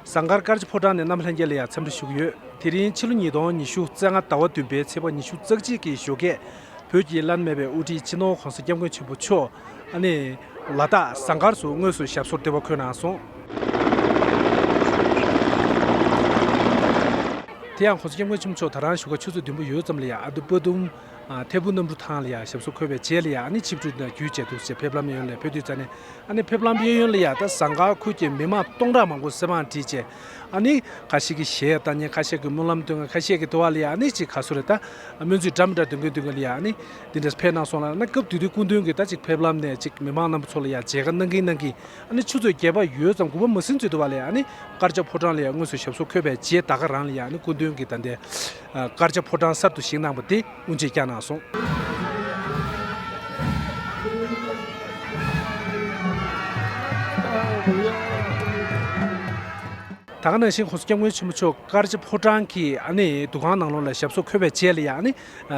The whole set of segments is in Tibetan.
ཟངས་དཀར་དཀར་ཆུ་ཕོ་བྲང་ནས་གནམ་ལྷན་རྒྱས་ལ་ཡང་འཚམས་འདྲི་ཞུ་གི་ཡོད། དེ་རིང་ཕྱི་ལོ་ཉིས་སྟོང་ཉི་ཤུ་རྩ་ལྔ་ཟླ་བ་བདུན་པའི་ཚེས་པ་ཉི་ཤུ་རྩ་གཅིག་གི་ཞོགས་ཁས་བོད་ཀྱི་བླ་ན་མེད་པའི་དབུ་ཁྲིད་སྤྱི་ནོར་གོང་ས་སྐྱབས་མགོན་ཆེན་པོ་མཆོག་ཨ་ནེ། ལ་དྭགས་ཟངས་དཀར་སུ་དངོས་སུ་ཞབས་སོར་འདེབས་པར་འཁོད་གནང་སོང། དེ་ཡང་གོང་ས་སྐྱབས་མགོན་ཆེན་པོ་མཆོག་ད་རང་བཞུགས་སྒར་ཆུ་ཚོད་བདུན་པོ་ཡོལ་ཙམ་ལ་ཡང་ཨ་རྡུ་པཱ་དུམ། ཐད་བུ་གནམ་གྲུ་ཐང་ལ་ཡང་ཞབས་སོར་འཁོད་པའི་རྗེས་ལ་ཡང་ཆིབས་བསྒྲིགས་དང་རྒྱུད་བཅས་ཐུགས་བཞེད་ཕེབས་ལམ་གཡས་གཡོན་ལས་འཕོས་དུས་རྩ་ནས་ཕེབས་ལམ་གཡས་གཡོན་ལ་ཡང་ཟངས་དཀར་ཁུལ་གྱི་མི་མང་སྟོང་ཕྲག་མང་པོ་གསེར་བང་བྲིས་རྗེས་ཁ་ཤས་ཀྱིས་གཞས་བཏང་ཉིན་ཁ་ཤས་ཀྱིས་སྨོན་ལམ་བཏོན་ཁ་ཤས་ཀྱིས་དུ་བ་ལ་ཡང་ཅིག་ཁ་གསོ་རེ་ད་སྨོན་ཚིག་འདྲ་མི་འདྲ་འདོན་གིན་འདོན་གིན་ལ་ཡང་འདི་འདྲས་ཕེབས་གནང་སོང་ལ་སྐབས་དུས་དུས་སྐུ་མདུན་གྱིས་ད་ཅིག་ཕེབས་ལམ་ནས་ཅིག་མི་མང་རྣམ་པ་ཚོ་ལ་ཡང་མཇལ་ཁ་གནང་གིན་གནང་གིན་ཆུ་ཚོད་བརྒྱད་པ་ཡོལ་ཙམ་དགུ་བ་མ་ཟིན་ཚུལ་དུ་བ་ལ་ཡང་དཀར་ཆག་ཕོ་བྲང་ལ་ཡང་དངོས་སུ་ཞབས་སོར་འཁོད་པའི་རྗེས་ད་ག་རང་ལ་ཡང་སྐུ་མདུན་གྱིས་ད་ལྟའི་དཀར་ཆ་ཕོ་བྲང་གསར་དུ་བཞེངས་གནང་བ་དེ་དབུ་འབྱེད་བསྐྱངས་གནང་སོང། ད་ག་ནང་བཞིན་ཁོང་སྐྱབས་མགོན་ཆེན་པོ་མཆོག་དཀར་ཆ་ཕོ་བྲང་གི་འདུ་ཁང་ནང་ལོགས་ལ་ཞབས་སོར་འཁོད་པའི་རྗེས་ལ་ཡང་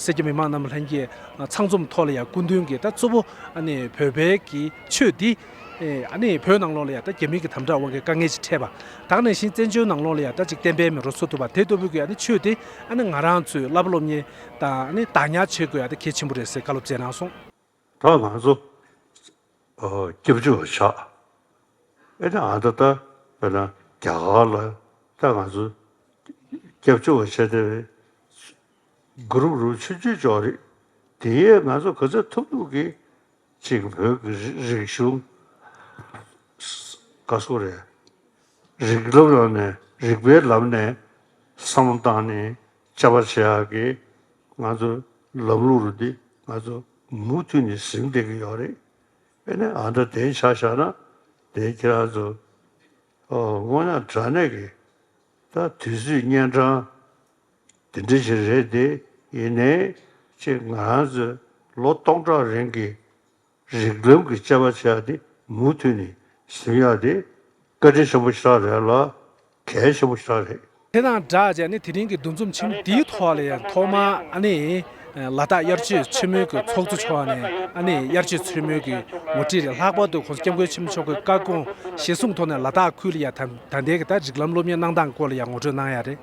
སེར་སྐྱ་མི་མང་རྣམས་ལྷན་གྱིས་ཚང་འཛོམས་ཐོག་ལ་ཡང་སྐུ་མདུན་གྱི་ད་གཙོ་བོ་བོད་པའི་གི་ཆོས་འདི་ཨ་ནི་བོད་ནང་ལོགས་ལ་ཡང་ད་རྒྱ་མིག་གི་དམ་དྲག་དབང་གིས་དཀའ་ངལ་ཅིག་འཕྲད་པ། དག་ནས་བཞིན་བཙན་བྱོལ་ནང་ལོགས་ལ་ཡང་ད་ཅིག་བསྟན་པའི་མི་རོ་འཚོ་ཐུབ་པ་དེ་ལྟོ་བུ་གི་ཨ་ནི་ཆོས་དེ་ཨ་ནི་ང་རང་ཚོའི་བླ་བ་སློབ་གཉེར་དང་ཨ་ནི་དག་ཉར་བྱེད་དགོས་ཨ་ད་གལ་ཆེན་པོ་རེད་ཟེར་བཀའ་སློབ་སྩལ་གནང་སོང། ད་ང་ཚོ་སྐྱབས་བཅོལ་བ་ཆགས་ཨ་ནི་ཨ་ད་ད་བོད་ནང་རྒྱ་གར་ལ་ད་ང་ཚོ་སྐྱབས་བཅོལ་བ་བྱེད་བདེ་བའི་གུ་རུབ་རུབ་ཆུ་རྒྱུས་ཅོག་རེད་དེ་ཡས་ང་ཚོ་ག་ཚད་ཐུབ་ཐུབ་གིས་གཅིག་བོད་ཀྱི་རིག་གཞུང་དགའ་སོ་རེད། རིག་སློབ་ཡོང་ནས་རིག་པའི་ལམ་ནས་བསམ་བློ་བཏང་ནས་དཔྱད་པ་བྱས་ཡག་གི་ང་ཚོ་ལམ་ལུགས་རུ་འདི་ང་ཚོ་མུ་མཐུད་ནས་ཟིན་བསྡད་གི་ཡོག་རེད་དཔེ་ནི་ཨ་མདོ་དེའི་ཆ་བཞག་ན་དེའི་ཁྱེད་རང་ཚོ་དངོས་ཡང་དྲ་གནས་གི་ད་དུས་ཚོད་གཉན་འཕྲང་དེ་འདྲ་ཞིག་རེད་དེ། ཡིན་ནའི། ཅེས་ང་རང་ཚོས་ལོ་སྟོང་ཕྲག་རིང་གི་རིགས་རྒྱུད་ཀྱི་དཔྱད་པ་བྱས་པ་དེ་མུ་མཐུད་ནས་ཟིན་ཡག་དེ། བཀའ་དྲིན་ཆེན་པོ་ཞེ་དྲག་རེད་ལ། གལ་ཆེན་པོ་ཞེ་དྲག་རེད། དེ་དང་སྦྲགས་ཅན་ནི་དེ་རིང་གི་འདུ་འཛོམས་ཆེན་མོ་འདིའི་ཐོག་ལ་ཡང་ཐོག་མར་ཨ་ནེ་ལ་དྭགས་དབྱར་སྤྱོད་ཆེན་མོའི་གི་ཚོགས་གཙོ་མཆོག་ནས་ཨ་ནེ་དབྱར་སྤྱོད་ཆེན་མོའི་གི་ངོ་ཁྲིད་ལ་ལྷག་པར་དུ་ཁོང་ཚོ་སྐྱབས་མགོན་ཆེན་མཆོག་གི་བཀའ་དགོངས་གཞིར་བཟུང་ཐོག་ནས་ལ་དྭགས་ཁུལ་ལ་ཡང་ད་ལྟའི་གི་ད་རིགས་ལམ་སློབ་གཉེར་གནང་སྟངས་སྐོར་ལ་ཡང་ངོ་སྤྲོད་གནང་ཡག་རེད།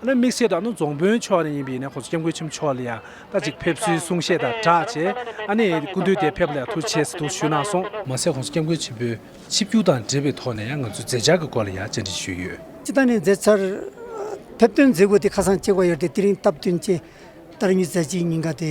ཨ་ནི་དམིགས་བྱེད་དུ་ཨ་ནི་རྫོང་དཔོན་མཆོག་ནི་ཡིན་པས་ནི་ཁོང་ཚོ་སྐྱབས་མགོན་ཆེན་པོ་མཆོག་ལ་ཡང་ད་ཅིག་ཕེབས་བསུའི་གསུང་བཤད་དང་སྦྲགས་བྱས། ཨ་ནི་སྐུ་མདུན་དེ་ཕེབས་པ་ལ་ཡང་ཐུགས་ཆེ་ཚིག་ཐུགས་ཞུ་གནང་སོང། མ་ཟད་ཁོང་ཚོ་སྐྱབས་མགོན་ཆེན་པོའི་ཆིབས་བསྒྱུར་དང་འབྲེལ་བའི་ཐོག་ནས་ཡང་ང་ཚོའི་མཛད་འཆར་གྱི་སྐོར་ལ་ཡང་བཅར་འདྲི་ཞུས་ཡོད། སྤྱི་བཏང་ནས་མཛད་འཆར་ཕེབས་སྟོན་མཛད་སྒོ་དེ་ཁ་སང་བཅས་བཀའ་ཡོལ་དེ་དེ་རིང་སྟབས་བསྟུན་བཅས་ལྟར་མྱུལ་མཛད་ཅིག་ཉིན་འགའ་དེ་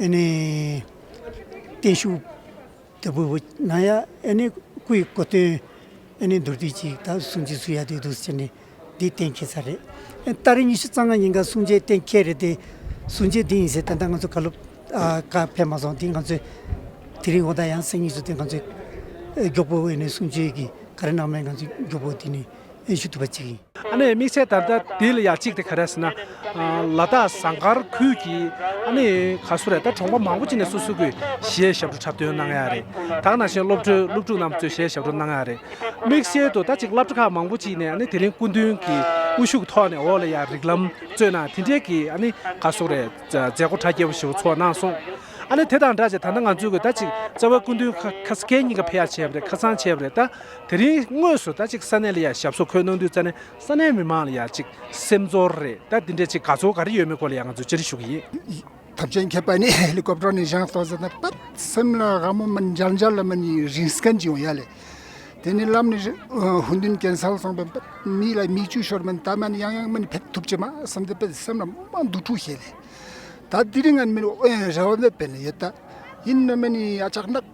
ཨེ་ནེ། བརྟན་བཞུགས། དེ་བུ་བུ་ན་ཡ་ཨེ་ནེ་སྐུ་ཡི་སྐུ་སྟོན། ཨེ་ནེ་མདོར་བསྡུས་ཅིག་ད་གསུང་རྗེས་སུ་ཡ་དུས་བསྡུ་ཟེར་ནས་འདི་གཏན་འཁེལ་ཚར་རེད། ད་རེས་ཉི་ཤུ་རྩ་ལྔ་ཉིན་འགའ་གསུང་རྗེས་གཏན་འཁེལ་རེད་དེ། གསུང་རྗེས་འདི་ཡིན་ཟེར་ད་ལྟ་ང་ཚོ་ག་ལུགས། ཀ་ཕེབས་མ་སོང་དེ་ང་ཚོས། དེ་རིང་འོ་ད་ཡང་སེང་ཉིད་ཚོ་དེ་ང་ཚོས། མགྱོགས་པོ་ཨེ་ནེ་གསུང་ཆོས་ཀྱི་ག་རེ་གནང་མེད་ང་ཚོས་མགྱོགས་པོ་དེ་ནས། ཨེ་ཞུ་ཐུབ་པ་ཅིག་ཡིན། ཨ་ནེ་དམིགས་བསལ་ད་ལྟ་དེ་ལ་ཡ་གཅིག་དེ་ག་རེ་ཟེར་ན། ལ་དྭགས་ཟངས་དཀར་ཁུལ་གྱི་ཨ་ནེ་ག་སུ་རེད་ད་གྲོང་པ་མང་པོ་ཅིག་ནས་སོ་སོ་གི་གཞས་ཞབས་བྲོ་འཁྲབ་སྟོན་གནང་ཡ་རེད་དྭགས་ན་བཞིན་སློབ་གྲོའི་སློབ་ཕྲུག་རྣམས་ཚོས་གཞས་ཞབས་བྲོ་གནང་ཡ་རེད། དམིགས་བསལ་དུ་ད་ཅིག་བླ་བྲོ་ཁག་མང་པོ་ཅིག་ནས་ཨ་ནེ་དེ་རིང་སྐུ་མདུན་གྱི་དབུ་བཞུགས་ཐོག་ནས་འོག་ལ་ཡ་རིགས་ལམ་རྩོད་གནང་དེ་འབྲེལ་གྱི་ཨ་ནེ་ག་སུ་རེད་མཛད་སྒོ་གྲ་རྒྱས་པོ་ཞིག་འུ་ཚོ་གནང་སོང། ཨ་ནེ་དེ་དང་འདྲ་ཅིག་ད་ལྟ་ང་ཚོས་གི་ད་ཅིག་རྩ་བའི་སྐུ་མདུན་ཁ་སྐད་གཉིས་ཀ་ཕེ་ཡ་བྱས་པ་རེད་ཁ་སང་བྱས་པ་རེད་ད། དེ་རིང་དངོས་སུ་ད་ཅིག་ས་གནས་ལ་ཡར་ཞབས་སོ་འཁོལ་གནང་དུས་ཙཱ་ནས་ས་གནས་མི་མང་ལ་ཡར་ཅིག་སེམས་ཚོར་རེད་ད་འདི་འདྲའི་ཅིག་ག་ཚོད་ག་རེ་ཡོད་མེད་སྐོར་ལ་ཡང་ང་ཚོས་ཅི་རེ་ཞུ་གི་ཡིན། ཐབས་ཆེན་མཁས་པ་ནི་ཧེ་ལི་ཀོབ་ཀྲོ་ནས་བཞེངས་གཏོང་ཟེར་ན་སྤད། སེམས་ལ་དགའ་མོ་མིན་འཇར་འཇར་ལ་མིན་ཡིན་རིང་སྐད་འབྱིན་འོང་ཡ་ལེ། དེ་ནི་ལམ་ནས་ཧུན་དུན་གན་སལ་སོང་པའི་སྤད། མིག་ལ་མིག་ཆུ་ཤོར་མིན་ད་མ་ནི་ཡང་ཡང་མིན་ཕེབས་ཐུབ་ཀྱི་མ་སེམས་དེ་སྤད་སེམས་ལ་མ་འདུག་འཁྲུག་ཤེས་ལེ། ད་དེ་རིང་ང་ནི་མིན་ཨོ་ཡང་རེ་བ་མེད་པའི་ལེ་ཡོད་ད། ཡིན་ནོ་མིན་ཡིན་ཡ་ཆག་ནག།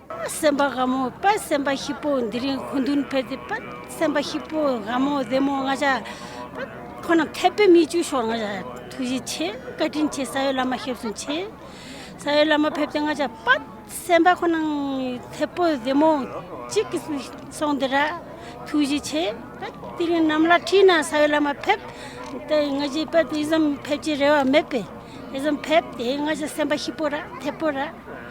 དཔལ་སེམས་དཔའ་དགའ་མོ་དཔལ་སེམས་དཔའ་ཤི་པོ་འདི་རིང་གོ་མདུན་ཕེབས་ཏེ་དཔལ་སེམས་དཔའ་ཤི་པོ་དགའ་མོ་བདེ་མོ་ང་ཅག་དཔལ་ཁོ་ན་འཐད་པའི་མིག་ཆུ་ཤོར་ང་ཅག་ཐུགས་རྗེ་ཆེ་བཀའ་དྲིན་ཆེ་ས་ཡོད་བླ་མ་ཞབས་ཟུང་ཆེ་ས་ཡོད་བླ་མ་ཕེབས་ཏེ་ང་ཅག་དཔལ་སེམས་དཔའ་ཁོ་ན་འཐད་པོ་བདེ་མོ་གཅིག་གི་སོང་འདི་ར་ཐུགས་རྗེ་ཆེ་དཔལ་དེ་རིང་ནམ་ལ་ཁྲིད་ན་ས་ཡོད་བླ་མ་ཕེབས་ཏེ་ང་ཅག་དཔལ་དེ་ཙམ་ཕེབས་ཀྱི་རེ་བ་མེད་པས་དེ་ཙམ་ཕེབས་ཏེ་ང་ཅག་སེམས་དཔའ་ཤི་པོ་ར་འཐད་པོ་ར་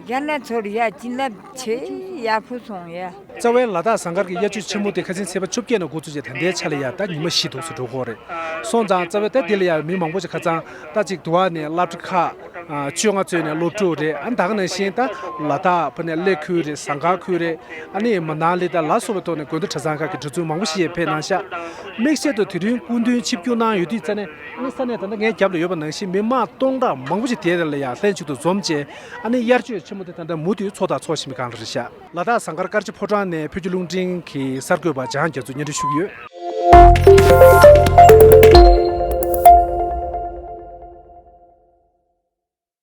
རྒྱ་ནག་ཚོར་ཡ་བྱིན་རླབས་ཆེ་ཡག་པོ་སོང་ཡ། རྩ་བའི་ལ་དྭགས་ཟངས་དཀར་གྱི་གཡའ་ཆུ་ཆེན་མོ་དེ་ཁ་ཟིན་ཚེས་པ་བཅོ་བརྒྱད་ནས་འགོ་ཚུགས་རྗེས་ད་ལྟའི་ཆ་ལ་ཡ་རྟ་ཉི་མ་བཞི་དུག་སུ་འགྲོ་སྐོར་རེད་སོང་ཙང་རྩ་བའི་རྟ་དེ་ལ་ཡ་བའི་མི་མང་པོ་ཞིག་ཁ་ཙང་རྟ་ཅིག་དུ་བ་ནས་གླ་བཀྲི་ཁ་བཅོ་ལྔ་བཙོས་ནས་སློབ་ཕྲུག་རེད་ཨ་འདག་ནས་ཤིང་རྟ་ལ་རྟ་ཕུ་ནས་གླེ་ཁུལ་རེད་ཟངས་དཀར་ཁུལ་རེད་ཨ་ནི་མི་ནག་ལི་ད་ལ་སོགས་པའི་ཐོག་ནས་དགོན་སྡེ་གྲྭ་ཚང་ཁག་གི་གྲྭ་བཙུན་མང་པོ་ཞིག་ཡར་འཕེལ་གནང་ཤག་དམིགས་བྱེད་དུ་དེ་རིང་སྐུ་མདུན་ཆིབས་བསྒྱུར་གནང་ཡོད་དུས་རྩ་ནས། ཨ་ནི་ས་གནས་དེ་འདྲ་ངའི་རྒྱབ་ལ་ཡོད་པ་ནང་བཞིན་མི་དམངས་སྟོང་ཕྲག་མང་པོ་ཞིག་དེ་རེ་ལ་ཡང་ལྷན་ཅིག་ཏུ་འཛོམས་རྗེས་ཨ་ནི་དབྱར་ཆོས་ཆེན་མོ་དེ་ད་ལྟ་མུ་མཐུད་འཚོགས་དང་འཚོགས་བཞིན་པའི་སྒང་ལ་རེ་བཞག། ལ་དྭགས་ཟངས་དཀར་དཀར་ཆེན་ཕོ་བྲང་ནས་བོད་ཀྱི་རླུང་འཕྲིན་གྱི་གསར་འགོད་པ་འཇང་རྒྱ་མཚོས་སྙན་སྒྲོན་ཞུ་གི་ཡོད།